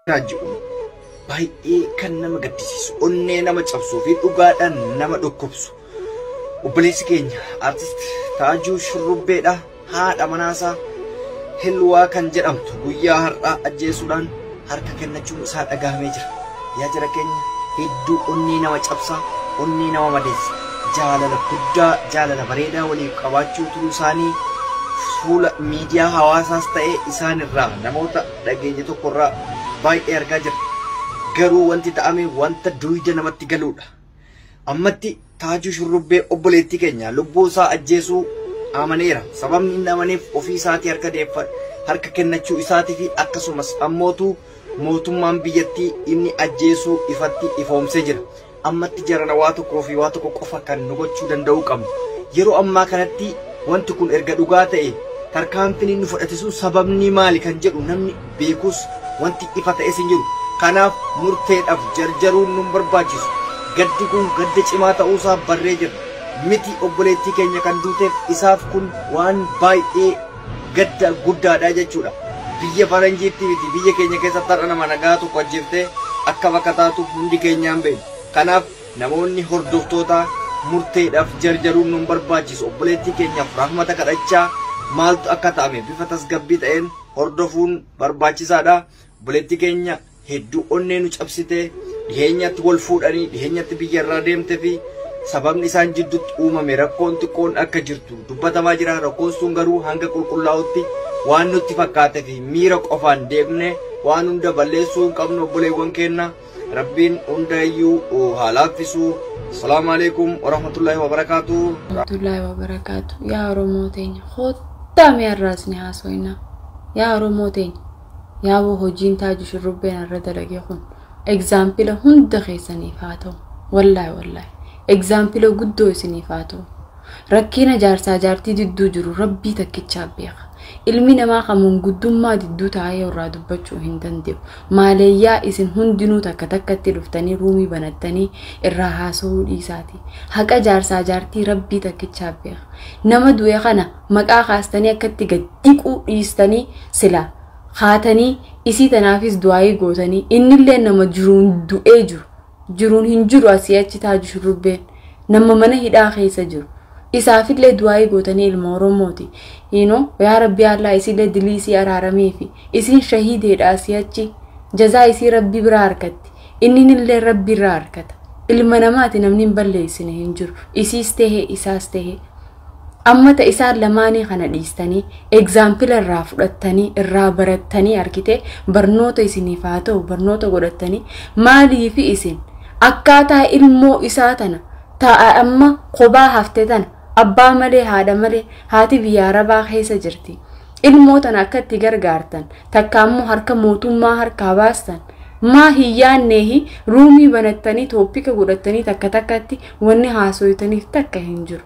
jedhu baay'ee kan nama gaddisiisu onnee nama cabsuu fi dhugaadhaan nama dhukkubsu obboleessi keenya artist taajuu shurrubbeedha haadha manaasaa hilwaa kan jedhamtu guyyaa har'aa ajjeesuudhaan harka kennachuun isaa dhagahamee jira. Yaa jara keenya hedduu onnee nama cabsaa, onnee nama madeessa. Jaalala guddaa, jaalala bareedaa waliif qabaachuu turuu isaanii fuula miidiyaa hawaasaas ta'ee isaan irraa namoota dhageenye tokko irraa baay'ee argaa jira. Garuu wanti ta'ame wanta duuyda namatti galuudha. Ammatti Taajuu Shurrubbee obboleettii keenya lubbuu isaa ajjeesuu amaneera. Sababni inni amaneef ofii isaatii harka deeffa harka kennachuu isaatii fi akkasumas ammootu mootummaan biyyattii inni ajjeesuu ifatti ifoomsee jira. Ammatti jarana waa tokkoo fi waa tokko qofa kan nu gochuu danda'uu qabnu. Yeroo ammaa kanatti wanti kun erga dhugaa ta'e tarkaanfiin inni fudhate sun sababni maali kan jedhu namni beekus wanti ifa ta'es hin jiru. Kanaaf murteedhaf jarjaruun nun barbaachisu. Gaddi kun gadda cimaa ta'uusaa barree jirra. Miti obboleettii keenya kan duuteef isaaf kun waan baay'ee gadda guddaadha jechuudha. Biyya faranjiitti miti biyya keenya keessatti har'a nama nagaa tokko ajjeeftee akkam akka taatu hundi keenyaa hin beeknu. Kanaaf namoonni hordoftootaa murteedhaf jarjaruun nun barbaachisu. Obboleettii keenyaf rahmata kadhachaa maaltu akka ta'ame bifa tasgabbii ta'een, hordofuun barbaachisaadha. Obboleetti keenya hedduu onnee nu cabsite dhiheenyatti wal fuudhanii dhiheenyatti biyya irraa deemte fi sababni isaan jidduutti uumame rakkoon xiqqoon akka jirtu dubbatamaa jira. Rakkoon sun garuu hanga qulqullaa'utti waan nutti fakkaate fi miira qofaan deemne waan hunda balleessuu hin qabnu obboleewwan keenya. Rabbiin hundaayyuu haa laaffisu. Salaamu alaikum warahmatullahi wabarakaatu. Abdullahi wa barakaatu. Yaa Oromoo teenya koottaa mee har'aas ni haasoinaa. Yaa Oromoo teenya yaaboo hojiin taaju shurrubbeen har'a dalagee kun egzaampila hunda keessaniif haa ta'u. Wallaahi wallaahi egzaampila guddoo isiniif haa ta'u. Rakkiina jaarsaa jaartii didduu jiru rabbii takkichaa beeka. Ilmi namaa kan manguddummaa didduu taa'ee irraa dubbachuu hin danda'u. Maaleeyyaa isin hundinuu takka takkatti dhuftanii ruumii banattanii irraa haasa'uu dhiisaati. Haqa jaarsaa jaartii rabbii takkichaa beeka. Nama du'e kana maqaa kaastanii akkatti gad dhiquu dhiistanii sila haatanii isii tanaafis du'aayii gootanii innillee nama jiruun du'ee jiru. jiruun hin jiru asii achi taaju shurrubbeen nama mana hidhaa keessa jiru isaafillee du'aa'ii gootanii ilma oromooti hiino yaa rabbii allaa isiillee dilii isii araaramiifi isiin shahiideedha asii achi jazaa isii rabbii biraa harkatti inninillee rabbii irraa harkata ilma namaati namni hin balleessine hin jiru isiis tehe isaas tehe Amma ta isaan lamaanii kana dhiistanii egzaampila irraa fudhattanii irraa barattanii argite barnoota isiniif haa ta'u barnoota godhattanii maaliif isin akkaataa ilmoo isaa tana ta'a amma kophaa hafte tana abbaa malee haadha malee haati biyya arabaa keessa jirti ilmoo tana akka itti gargaartan takka ammoo harka mootummaa harkaa baastan maa hin yaanneehi ruumii banattanii tooppika godhattanii takka takkatti Wanni haasoytaniif takka hin jiru.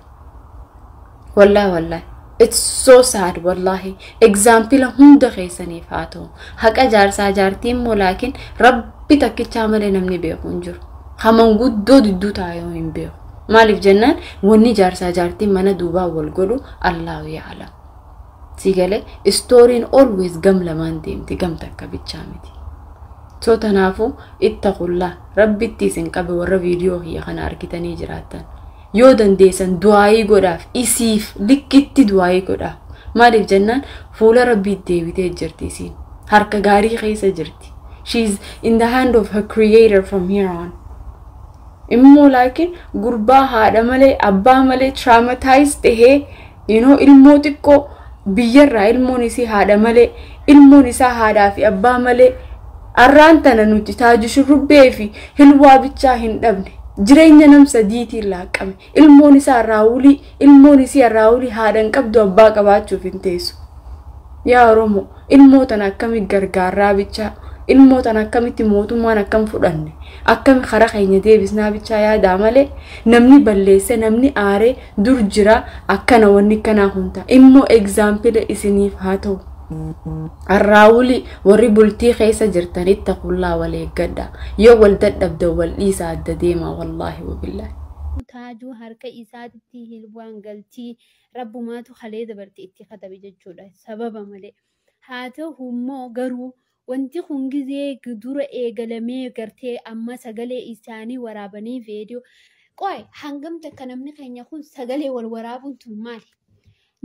Wallahi wallahi. It's so sad wallahi. Example hunda keessaniif haa ta'u. Haqa jaarsaa jaartii immoo laakiin rabbi takkichaa malee namni beeku hin jiru. Haman guddoo didduu taa'ee hin beeku. Maaliif jennaan wanni jaarsaa jaartii mana duubaa wal godhu Allahu yaalam. Si gale istooriin always gam lamaan deemti gam takka bichaa miti. So tanaafuu itta qullaa rabbitti isin qabe warra viidiyoo kiyya kana argitanii jiraattan. Yoo dandeessan du'aayii godhaaf isiif likkitti du'aayii godhaa. Maaliif jennaan fuula rabbiitti deebitee jirti isiin. Harka gaarii keessa jirti. She is in the hand of her creator from here on. immoo laakiin gurbaa haadha malee abbaa malee traumatize tahee you know ilmoo xiqqoo biyyarraa ilmoon isii haadha malee ilmoon isaa haadhaa fi abbaa malee arraan tana nuti taaju shurrubbee fi hilwaa bichaa hin dhabne jireenya nam sadiitiin laaqqame Ilmoon isaa Raawulii, ilmoon isi'a Raawulii haadha hin qabdu abbaa qabaachuuf hin teessu. Yaa Oromoo, ilmoo tana akkami gargaarraa bichaa, ilmoo tana akkamitti mootummaan akkam fudhanne, akkami kara keenya deebisnaa bichaa yaadaa malee namni balleesse, namni aaree dur jira akkana wanni kanaa kun ta'a. Immoo egzaampila isiniif haa ta'u. Arraawuli warri bultii keessa jirtan ittaqullaa wal eeggadha. Yoo wal dadhabdan wal dhiisaa adda deemaa wallaahi wabillaahi. Abuu taajuu harka isaatitti hilbwaan galtii rabbumaatu kalee dabarte itti katabe jechuudha sababa malee haa tahu immoo garuu wanti kun gizee dura eegalamee gartee amma sagalee isaanii waraabanii veediyoo qoy hangam takka namni keenya kun sagalee wal waraabuun tun maali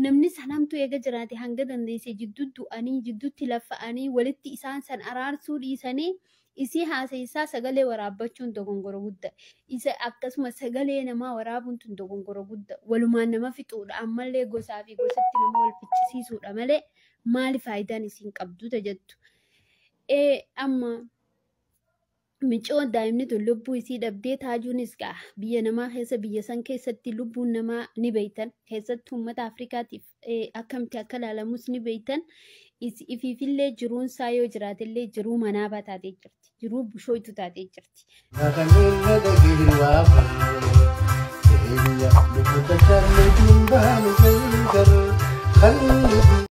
Namni san hamtuu eega jiraate hanga dandeesse jidduu du'anii, jidduutti laffa'anii, walitti isaan san araarsuu dhiisanii, isii haasayisaa sagalee waraabbachuun dogongora gudda. Isa akkasuma sagalee namaa waraabuun tun dogongora gudda. Walumaan nama fixuudha, ammallee gosaa fi gosatti nama wal ficcisiisuudha malee maali faayidaan isiin qabdu ta jettu. Ee amma Micoon daa'imni tun lubbuu isii dhabdee taajuunis gaa biyya namaa keessa biyya san keessatti lubbuun namaa ni beeytan keessatti uummata Afrikaatiif akkamitti akka ilaalamus ni beeytan ifiifillee jiruun isaa yoo jiraatellee jiruu manaabaa taatee jirti jiruu bushooytu taatee jirti. Kan